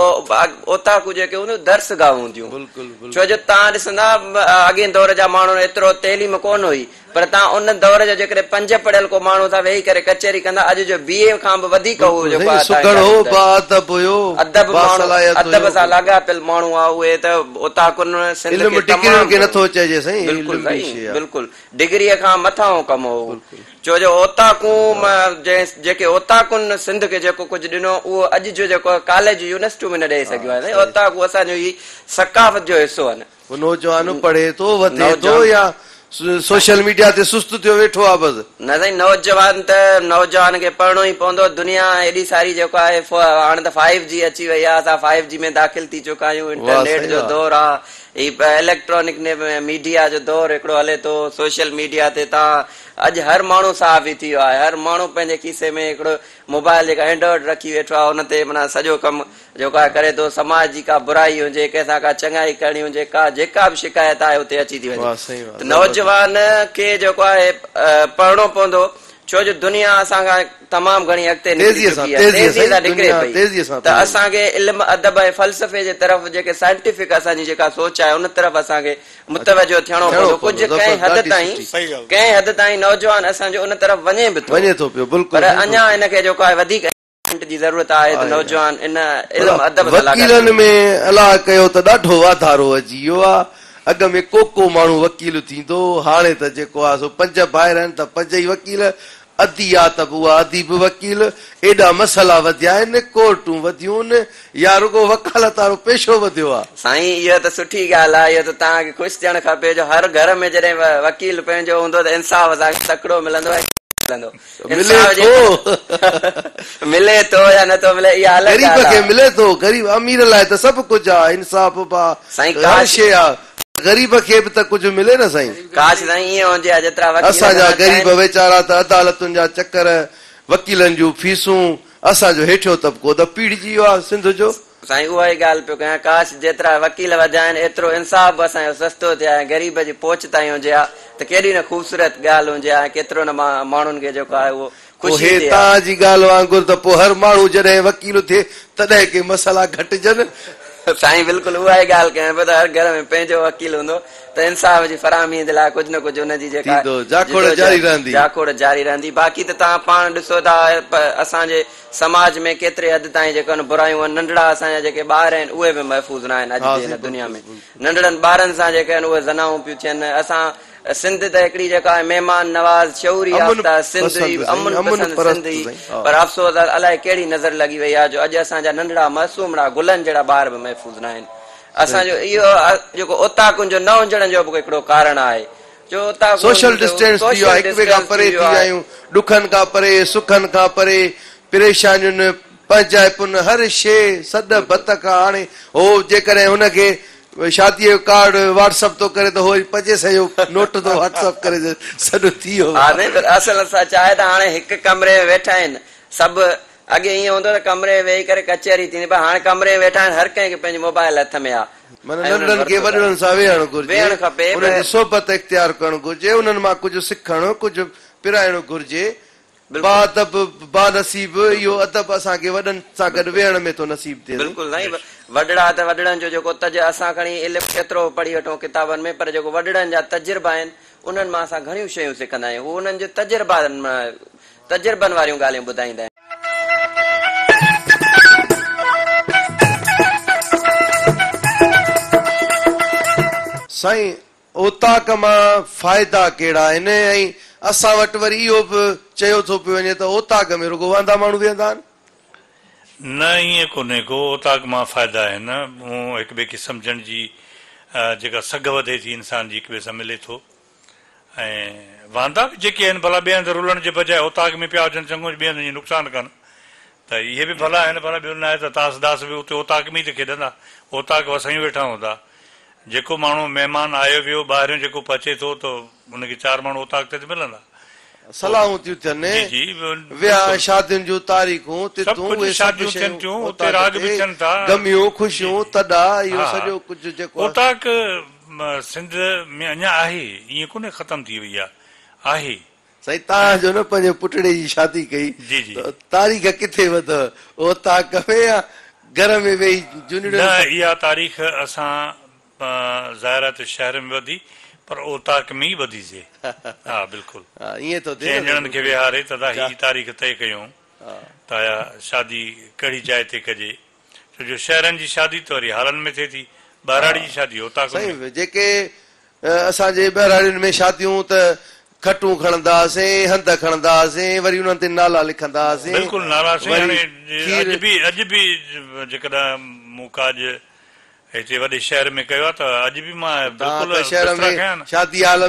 اوطاقون جيڪي هونديون درس گاهون هونديون ڇو جو تان ڏسندا اڳين دور جا ماڻهو ايترو تعليم ڪون هئي پر تان ان دور جو جيڪڏهن پنج پڙهيل ڪو ماڻهو ٿا ويهي ڪري ڪچهري ڪندا اڄ جو بي اي کان به وڌيڪ هو جو ڪو سگهڙ هو باادب هيو باصلاحيت هيو ادب سان لاڳاپيل ماڻهو ها اهي ته اتان ڪن سنڌ کي تمام علم ڊگرين کي نٿو چئجي سائين بلڪل سائين بلڪل ڊگري کان مٿانهون ڪم هو ڇو جو اوطاقون جيڪي اوطاقن سنڌ کي جيڪو ڪجهه ڏنو اهو اڄ جو جيڪو ڪاليجون يونيورسٽيون به نه ڏئي سگهيون آهن سائين اوطاقون اسان جو هي ثقافت جو حصو آهن هو نوجوان پڙهي ٿو، وڌي ٿو يا سوشل ميڊيا تي سست ٿيو ويٺو آهي بس. نه سائين نوجوان ته نوجوان کي پڙهڻو ئي پوندو دنيا ايڏي ساري جيڪو آهي هاڻ ته فائيو جي اچي وئي آهي اسان فائيو جي ۾ داخل ٿي چڪا آهيون انٽرنيٽ جو دور آهي هي اليڪٽرانڪ ميڊيا جو دور هڪڙو هلي ٿو سوشل ميڊيا تي تان اڄ هر ماڻهو صحافي ٿي ويو آهي هر ماڻهو پنهنجي کيسي ۾ هڪڙو موبائل جيڪا اينڊرائڊ رکي ويٺو آهي ان تي معنيٰ سڄو ڪم جيڪو آء ڪري ٿو، سماج جي ڪا برائي هجي، ڪنهن سان ڪا چڱائي ڪرڻي هجي، ڪا جيڪا به شڪايت آهي اتي اچي ٿي وڃي. ته نوجوان کي جيڪو آهي پڙهڻو پوندو، ڇو جو دنيا اسان کان تمام گهڻي اڳتي نڪري چڪي آهي، تيزي سان نڪري پئي، ته اسان کي علم، ادب ۽ فلسفي جي طرف جيڪي سائنٽيفڪ اسان جي جيڪا سوچ آهي ان طرف اسان کي متوجهه ٿيڻو پوندو، ڪجهه ڪنهن حد تائين، ڪنهن حد تائين نوجوان اسان جو ان طرف وڃي به ٿو، پر اڃا ان کي جيڪو آهي وڌيڪ. وڪيلن ۾ الا ڪيو ته ڏاڍو واڌارو اچي ويو آ اڳ ۾ ڪوڪو ماڻهو وڪيل ٿيندو هو هاڻي ته جيڪو آ سو پنج ڀائر آهن ته پنج ئي وڪيل ادي آ ته به اها ادي به وڪيل ايڏا مسئلا وڌيا آهن ڪورٽون وڌيون يا رڳو وڪالت وارو پيشو وڌيو آ. سائين اهو ته سٺي ڳالهه آ اهو ته توهان کي خوش ٿيڻ کپي جو هر گهر ۾ جڏهن وڪيل پنهنجو هوندو ته انصاف اسان کي تڪڙو ملندو ۽ ملندو. انصاف جي ملي ٿو يا نه ٿو ملي اها الڳ ڳالهه آ. غريب کي ملي ٿو غريب امير لاء ته سڀ ڪجهه آ انصاف به آ هر شي آ پر غريب کي به ته ڪجهه ملي نه سائين. ڪاش سائين ايئن هجي ها جيترا وڪيل اسان جا غريب ويچارا ته عدالتن جا چڪر وڪيلن جون فيسون اسان جو هيٺيون طبقو ته پيڙهجي ويو آ سنڌ جو. سائين اها ئي ڳالهه پيو ڪيان ڪاش جيترا وڪيل وڌيا آهن ايترو انصاف به اسان جو سستو ٿئي ها ۽ غريب جي پهچ تائين هجي ها ته ڪيڏي نه خوبصورت ڳالهه هجي ها ۽ ڪيترو نه ماڻهن کي جيڪو آهي اهو پوء خوشي ٿئي ها. توهان جي ڳالهه وانگر ته پوء هر ماڻهو جڏهن وڪيل ٿئي تڏهن ڪي مسئلا گهٽجن. سائين بلڪل اها ئي ڳالهه ڪيان پيو ته هر گهر ۾ پنهنجو وڪيل هوندو ته انصاف جي فراهمي جي لاء ڪجهه نه ڪجهه ان جي جيڪا ٿيندو جاکوڙ جاري جدوجهد رهندي. جاکوڙ جاري رهندي باقي ته توهان پاڻ ڏسو ٿا اسان جي سماج ۾ ڪيتري حد تائين جيڪي ان برايون آهن، ننڍڙا اسان جا جيڪي ٻار آهن اهي به محفوظ نه آهن اڄ جي ان دنيا ۾ ننڍڙن ٻارن سان جيڪي آهن اهي زنائون پيون ٿين اسان سنڌ ته هڪڙي جيڪا آهي مهمان نواز شعور يافته سنڌ هي امن پسند سنڌ هي پر افسوس آهي الائي ڪهڙي نظر لڳي وئي آهي جو اڄ اسان جا ننڍڙا معصومڙا گلن جهڙا ٻار به محفوظ نه آهن اسان جو اهو جيڪو اوطاقن جو نه هجڻ جو به هڪڙو ڪارڻ آهي سوشل ڊسٽينس ٿي ويو آهي، هڪ ٻئي کان پري ٿي ويا آهيون، ڏکن کان پري، سکن کان پري، پريشانين، پنهنجائپن، هر شيء سڏ ڀت کان هاڻي هو جيڪڏهن هن کي شاديء جو ڪارڊ واٽس اپ ٿو ڪري ته هو وري پنهنجي سان اهو نوٽ ٿو واٽس اپ ڪري ته سڏ ٿي ويو. ها نينگر اصل سچ آهي ته هاڻي هڪ ڪمري ۾ ويٺا آهن سڀ اڳي ائين هوندو هو ته ڪمري ۾ ويهي ڪري ڪچهري ٿيندي پر هاڻ ڪمري ۾ ويٺا آهن هر ڪنهن کي پنهنجو موبائل هٿ ۾ آهي. معنيٰ ننڍڙن کي وڏڙن سان ويهڻ گهرجي، انهن جي صحبت اختيار ڪرڻ گهرجي، انهن مان ڪجهه سکڻ، ڪجهه پرائڻو گهرجي. باادب، بانصيب اهو ادب اسان کي وڏن سان گڏ ويهڻ ۾ ٿو نصيب ٿئي. بلڪل سائين وڏڙا ته وڏڙن جو جيڪو تج اسان کڻي علم ڪيترو به پڙهي وٺون ڪتابن ۾ پر جيڪو وڏڙن جا تجربا آهن انهن مان اسان گهڻيون شيون سکندا آهيون هو انهن جي تجربا تجربن واريون ڳالهيون ٻڌائيندا آهن. سائين اوطاق مان فائدا ڪهڙا آهن ۽ اسان وٽ وري اهو به چيو ٿو پيو وڃي ته اوطاق ۾ رڳو واندا ماڻهو ويهندا آهن. نه ائين ڪونهي ڪو اوطاق مان فائدا آهن مون هڪ ٻئي کي سمجهڻ جي جيڪا سگهه وڌي ٿي انسان جي هڪ ٻئي سان ملي ٿو. ۽ واندا به جيڪي آهن ڀلا ٻئي هنڌ رلڻ جي بجاء اوطاق ۾ پيا هجن چڱو جو ٻئي هنڌ جي نقصان ڪن ته اهي به ڀلا آهن ڀلا ٻيو نه آهي ته تاس داس به اتي اوطاق ۾ ئي ته کيڏندا اوطاق وسايون ويٺا هوندا جيڪو ماڻهو مهمان آيو ويو ٻاهريون جيڪو پهچي ٿو ته ان کي چار ماڻهو اوطاق تي ته ملندا صلاحون ٿيون ٿين جي جي ويا ۽ شادين جون تاريخون سڀ تتون ڪجهه اهي سڀ شاديون ٿين شيون ٿيون اتي اوطاق راڳ تي به ٿين ٿا گميون جي خوشيون تڏا اهو ها ها سڄو ڪجهه جيڪو آهي اوطاق سنڌ ۾ اڃا آهي ائين ڪونهي ختم ٿي وئي آ آهي. سائين تان جو نه پنهنجي پٽڙي جي شادي ڪئي ته تاريخ ڪٿي وڌو اوطاق ۾ يا گهر ۾ ويهي جونڙيون نه اها تاريخ اسان ظاهر آهي ته شهر ۾ وڌي پر اوطاق ۾ ئي وڌي سي ها بلڪل چئن ڄڻن کي ويهاري تدا هي تاريخ طئي ڪيون ته آيا شادي ڪهڙي جاء تي ڪجي ڇو جو شهرن جي شادي ته وري هالن ۾ ٿئي ٿي، ٻهراڙي جي شادي اوطاقن ۾. سائين جيڪي اسان جي ٻهراڙين ۾ شاديون ته کٽون کڻندا هئاسين، هنڌ کڻندا هئاسين، وري انهن تي نالا لکندا هئاسين، بلڪل نالا سائين وري هاڻي کير. اڄ به اڄ به جيڪڏهن مون ڪاڄ ايتري وڏي شهر ۾ ڪيو آهي ته اڄ به مان بلڪل بسترا کنيا آهن.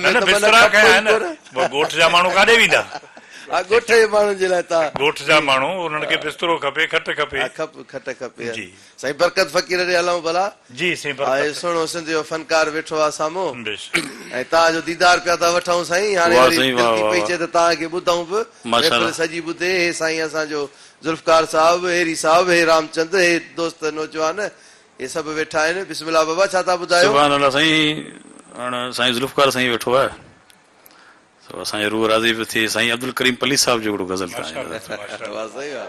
نه نه بسترا کنيا آهن. پوء ڳوٺ جا ماڻهو ڪاڏي ويندا؟ ها ڳوٺ جي ماڻهن جي لاء تان. ڳوٺ جا ماڻهو انهن کي بسترو کپي کٽ کپي. ها کپ کٽ کپي. جي. سائين برڪت فقير ڏي هلئون ڀلا. جي سائين برڪت. هاء سهڻو سنڌ جو فنڪار ويٺو آهي سامهون. بيشڪ. ۽ تان جو ديدار پيا ٿا وٺئون سائين هاڻي واري دل ٿي پئي چئي ته تان کي ٻڌئون به محفل سڄي ٻڌي هي سائين اسان جو ذوالفقار صاحب هيري صاحب هي رام چند هي دوست نوجوان هي سڀ ويٺا آهن. بسم الله بابا ڇا ٿا ٻڌايو. سبحان الله سائين هاڻ سائين ذوالفقار سائين ويٺو آهي سو اسان جي روح راضي پيو ٿئي سائين عبدالڪريم پليج صاحب جو هڪڙو غزل تان آهي حضرت واھ سائين واھ.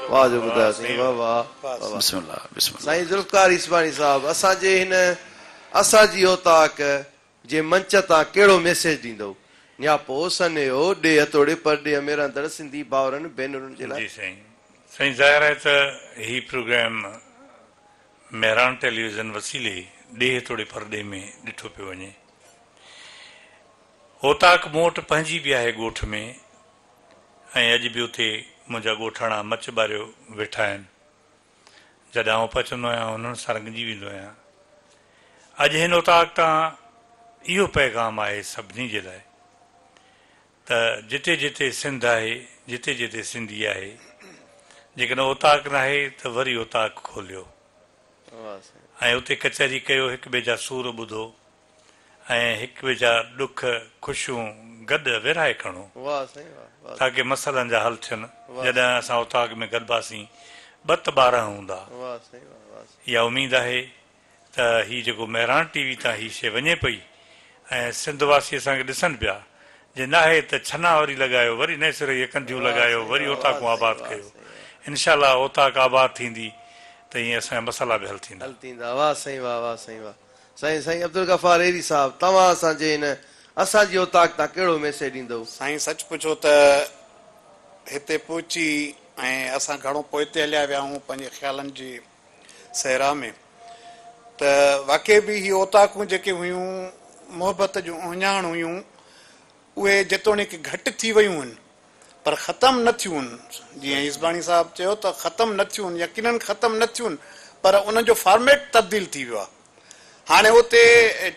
واھ جو ٻڌايو سائين واھ واھ واھ. بسم الله بسم الله. سائين ذوالفقار عيسواڻي صاحب اسان جي هن اساجي اوطاق جي منچ تان ڪهڙو ميسيج ڏيندؤ نياپو سنيهو ڏيهه توڙي پرڏيهه ۾ رهندڙ سنڌي ڀائرن ڀينرن جي لاء. جي سائين سائين ظاهر آهي ته هي پروگرام مهراڻ ٽيليويزن وسيلي ڏيهه توڙي پرڏيهه ۾ ڏٺو پيو وڃي اوطاق مون وٽ پنهنجي به آهي ڳوٺ ۾ ۽ اڄ به اتي منهنجا ڳوٺاڻا مچ ٻاريو ويٺا آهن. جڏهن آئون پهچندو آهيان انهن سان رڱجي ويندو آهيان. اڄ هن اوطاق تان اهو پيغام آهي سڀني جي لاء ته جتي جتي سنڌ آهي جتي جتي سنڌي آهي جيڪڏهن اوطاق ناهي ته وري اوطاق کوليو ۽ اتي ڪچهري ڪيو هڪ ٻئي جا سور ٻڌو ۽ هڪ ٻئي جا ڏک خوشيون گڏ ورهائي کڻو تاڪه مسئلن جا حل ٿين جڏهن اسان اوطاق ۾ گڏباسين ٻت ٻارهن هوندا اها اميد آهي ته هي جيڪو مهراڻ ٽي وي تان هي شي وڃي پئي ۽ سنڌ واسي اسان کي ڏسن پيا جي ناهي ته ڇنا وري لڳايو وري نئين سري هي ڪنڌيون لڳايو وري اوطاقون آباد ڪيو انشاء الله اوطاق آباد ٿيندي ته ايئن اسان جا مسئلا به حل ٿيندا. سائين سائين عبدالغفار ايري صاحب توهان اسان جي هن اسان جي اوطاق تان ڪهڙو ميسيج ڏيندؤ؟ سائين سچ پڇو ته هتي پهچي ۽ اسان گهڻو پوئتي هليا ويا آهون پنهنجي خيالن جي صحرا ۾ ته واقعي به هي اوطاقون جيڪي هيون محبت جون اهڃاڻ هيون. اهي جيتوڻيڪ گهٽ ٿي ويون هن پر ختم نه ٿيون هن جيئن يزباڻي صاحب چيو ته ختم نه ٿيون هن يقينن ختم نه ٿيون پر انهن جو فارميٽ تبديل ٿي ويو آهي هاڻي اتي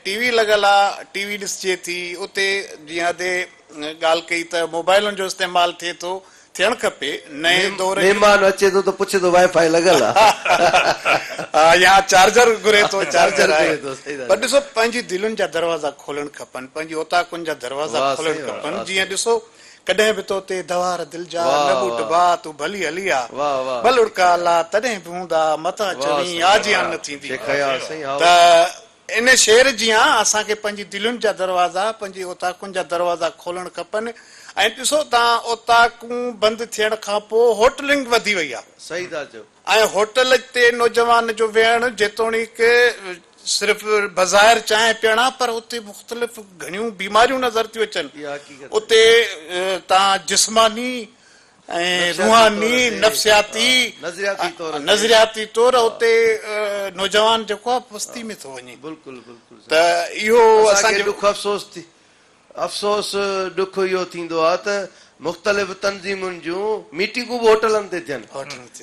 ٽي وي لڳل آهي ٽي وي ڏسجي ٿي اتي جيئن ادي ڳالهه ڪئي ته موبائلن جو استعمال ٿئي ٿو ٿيڻ کپي نئين دور جي. مھمان اچي ٿو ته پڇي ٿو وائي فائي لڳل آ. ھا يا چارجر گھري ٿو چارجر آھي پر ڏسو پنھنجي دلين جا دروازا کولڻ کپن پنھنجي اوطاقن جا دروازا کولڻ کپن جيئن ڏسو ڪڏھن به تو تي دھار دل جا نه ٻوٽ ڀاء تون ڀلي ھلي آ ٻلڙڪا لا تڏھن به ھوندا متان چوين آجيان نه ٿيندي ته ان شعر جيان اسان کي پنهنجي دلين جا دروازا، پنهنجي اوطاقن جا دروازا کولڻ کپن ۽ ڏسو ته اوطاقون بند ٿيڻ کان پوء هوٽلنگ وڌي وئي آهي ۽ هوٽل تي نوجوان جو ويهڻ جيتوڻيڪ صرف بظاهر چانهه پيئڻ آهي پر اتي مختلف گهڻيون بيماريون نظر ٿيون اچن اتي تان جسماني ۽ روحاني، نفسياتي ۽ نظرياتي طور اتي نوجوان جيڪو آهي پستي ۾ ٿو وڃي ته اهو اسان کي ڏک افسوس ٿي افسوس ڏک اهو ٿيندو آهي ته مختلف تنظيمن جون ميٽنگون به هوٽلن تي ٿين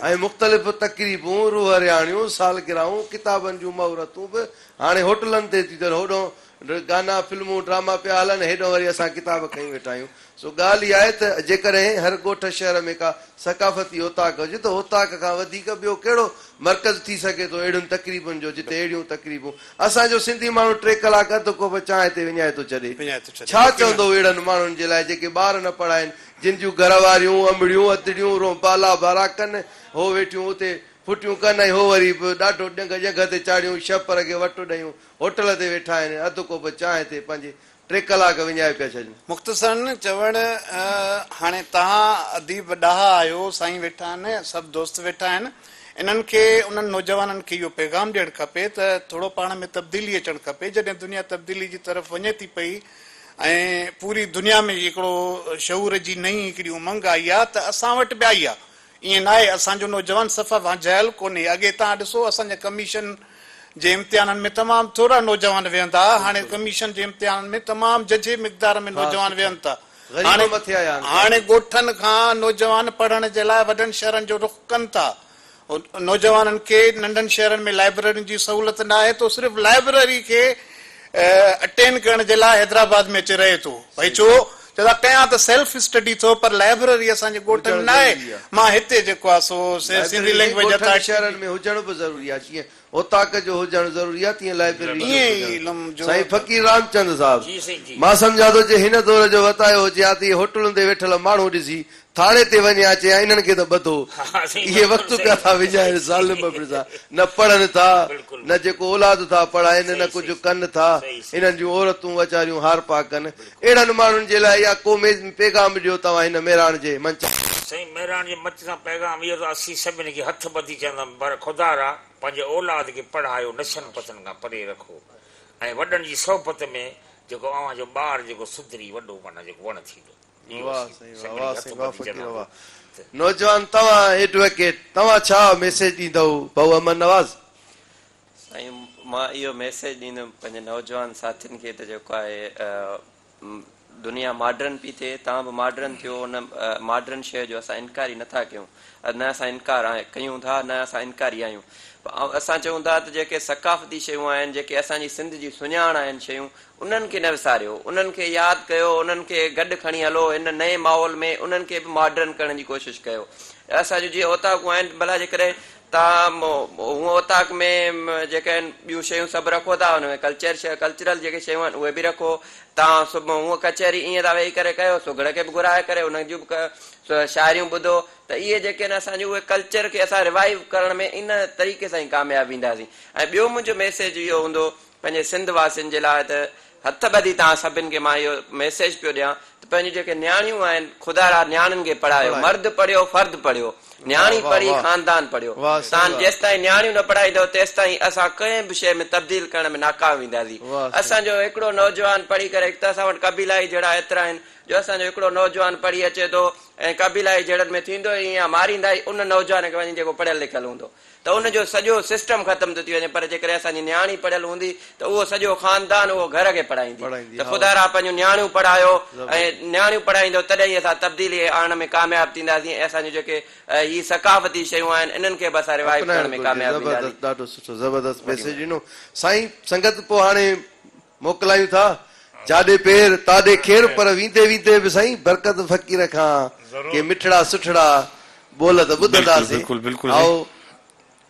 ۽ مختلف تقريبون، روح رهاڻيون، سالگراهون، ڪتابن جون مهورتون به هاڻي هوٽلن تي ٿيون ٿين هوڏهون ڊر گانا فلمون ڊراما پيا هلن هيڏانهن وري اسان ڪتاب کڻي ويٺا آهيون سو ڳالهه اها آهي ته جيڪڏهن هر ڳوٺ شهر ۾ ڪا ثقافتي اوطاق هجي ته اوطاق کان وڌيڪ ٻيو ڪهڙو مرڪز ٿي سگهي ٿو اهڙين تقريبن جو جتي اهڙيون تقريبون اسان جو سنڌي ماڻهو ٽي ڪلاڪ اڌ ڪوپ چانهه تي وڃائي ٿو ڇڏي ڇا چوندو اهڙن ماڻهن جي لاء جيڪي ٻار نه پڙها آهن جن جون گهر واريون امڙيون ادڙيون رونبا لابارا ڪن هو ويٺيون اتي ڦٽيون ڪن ۽ هو وري به ڏاڍو ڏنگ ڄنگهه تي چاڙهيون شهپر کي وٽ ڏيون هوٽل تي ويٺا آهن ۽ اڌ ڪوپ چانهه تي پنهنجي ٽي ڪلاڪ وڃائي پيا ڇڏين. مختصراً چوڻ هاڻي توهان اديب ڏاها آهيو، سائين ويٺا آهن، سڀ دوست ويٺا آهن، انهن کي انهن نوجوانن کي اهو پيغام ڏيڻ کپي ته ٿورو پاڻ ۾ تبديلي اچڻ کپي، جڏهن دنيا تبديلي جي طرف وڃي ٿي پئي ۽ پوري دنيا ۾ هڪڙو شعور جي نئين هڪڙي امنگ آئي آهي ته اسان وٽ به آئي آهي. ائين ناهي اسان جو نوجوان صف وانجهايل ڪونهي اڳي تان ڏسو اسان جي ڪميشن جي امتحانن ۾ تمام ٿورا نوجوان ويهن ها هاڻي ڪميشن جي امتحانن ۾ تمام ججهي مقدار ۾ نوجوان ويهن ٿا هاڻي ڳوٺن کان نوجوان پڙهڻ جي لاء وڏن شهرن جو رخ ڪن ٿا نوجوانن کي ننڍن شهرن ۾ لائبررين جي سهولت ناهي ٿو صرف لائبرري کي اٽينڊ ڪرڻ جي لاء حيدرآباد ۾ اچي رهي ٿو ڀئي ڇو چئو ٿا ڪيان ته سيلف اسٽڊي ٿو پر لائبرري اسان جي ڳوٺ ۾ ناهي مان هتي جيڪو آهي سو سنڌي لئنگويج اتان ڳوٺن شهرن ۾ هجڻ به ضروري آهي جيئن اوطاق جو هجڻ ضروري آهي تيئن لائبرري جو به هجڻ سائين فقير رامچند صاحب مان سمجهان ٿو جي هن دور جو وتايو هجي ها ته اهي هوٽلن تي ويٺل ماڻهو ڏسي ٿاڻي تي وڃي آ چيان انهن کي ته ٻڌو اهي وقت پيا ٿا وڃائن ظالم ابڙي ٿا نه پڙهن ٿا نه جيڪو اولاد ٿا پڙهائين نه ڪجهه ڪن ٿا انهن جون عورتون ويچاريون هارپا ڪن اهڙن ماڻهن جي لاء اها ڪو پيغام ڏيو توهان هن مهراڻ جي منچ سائين مهراڻ جي منچ سان پيغام اهو ته اسين سڀني کي هٿ ٻڌي چوندم پر خدا را پنهنجي اولاد کي پڙهايو نشن پتن کان پري رکو ۽ وڏن جي صحبت ۾ جيڪو اوهان جو ٻار جيڪو سڌري وڏو معنيٰ جيڪو وڻ ٿيندو. ڏينهن واه هوسي، سائين واه، سنگهڙي واه هٿ سائين واه ٻڌي فقير جناب واه ته. نوجوان توهان ايڊوڪيٽ توهان ڇا ميسيج ڏيندؤ ڀائو احمد نواز. سائين مان اهو ميسيج ڏيندم پنهنجي نوجوان ساٿين کي ته جيڪو آهي دنيا ماڊرن پي ٿئي توهان به ماڊرن ٿيو ان ماڊرن شيء جو اسان انڪاري نٿا ڪيون نه اسان انڪار ڪيون ٿا نه اسان انڪاري آهيون اسان چئون ٿا ته جيڪي ثقافتي شيون آهن جيڪي اسان جي سنڌ جي سڃاڻ آهن شيون انهن کي نه وساريو، انهن کي ياد ڪيو، انهن کي گڏ کڻي هلو، هن نئين ماحول ۾ انهن کي به ماڊرن ڪرڻ جي ڪوشش ڪيو. اسان جون جيئن اوطاقون آهن، ڀلا جيڪڏهن توهان هونء اوطاق ۾ جيڪي آهن ٻيون شيون سڀ رکو ٿا، ان ۾ ڪلچر ڪلچرل جيڪي شيون آهن اهي به رکو. توهان سڀ هونء ڪچهري ائين ٿا ويهي ڪري ڪيو، سگهڙ کي به گهرائي ڪري انهن جون به شاعريون ٻڌو ته اهي جيڪي آهن اسان جون اهي ڪلچر کي اسان ريوائيو ڪرڻ ۾ ان طريقي سان ئي ڪامياب وينداسين. ۽ ٻيو منهنجو ميسيج اهو هوندو پنهنجي سنڌ واسين جي لاء ته هٿ ٻڌي توهان سڀن کي مان اهو ميسيج پيو ڏيان ته پنهنجون جيڪي نياڻيون آهن خدا را نياڻين کي پڙهايو مرد پڙهيو فرد پڙهيو نياڻي پڙهي خاندان پڙهيو توهان جيستائين نياڻيون نه پڙهائيندو تيستائين اسان ڪنهن به شيء ۾ تبديل ڪرڻ ۾ ناڪام وينداسين اسان جو هڪڙو نوجوان پڙهي ڪري هڪ ته اسان وٽ قبيلائي جهيڙا ايترا آهن جو اسان جو هڪڙو نوجوان پڙهي اچي ٿو ۽ قبيلائي جهيڙن ۾ ٿيندو ئي ائين آهي ماريندا ئي ان نوجوان کي وڃي جيڪو پڙهيل لکيل هوندو ته ان جو سڄو سسٽم ختم ٿو ٿي وڃي پر جيڪڏهن اسان جي نياڻي پڙهيل هوندي ته اهو سڄو خاندان اهو گهر کي پڙهائيندي ته خدا را پنهنجون نياڻيون پڙهايو ۽ نياڻيون پڙهائيندو تڏهن ئي اسان تبديلي آڻڻ ۾ ڪامياب ٿينداسين ۽ اسان جون جيڪي هي ثقافتي شيون آهن انهن کي به اسان روايت ڪرڻ ۾ ڪامياب ٿينداسين. ڏاڍو سٺو زبردست ميسيج ڏنو سائين سنگت پوء هاڻي موڪلايون ٿا، جاڏي پير تاڏي کير پر ويندي ويندي به سائين برڪت فقير کان ڪي مٺڙا سٺڙا ٻول ته ٻڌندا سين. بلڪل بلڪل بلڪل سائين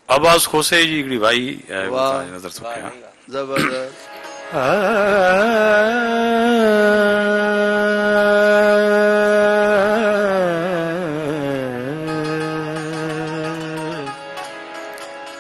عباس کوسي جي هڪڙي وائي وتان نظر ٿو ڪيان. زبردست.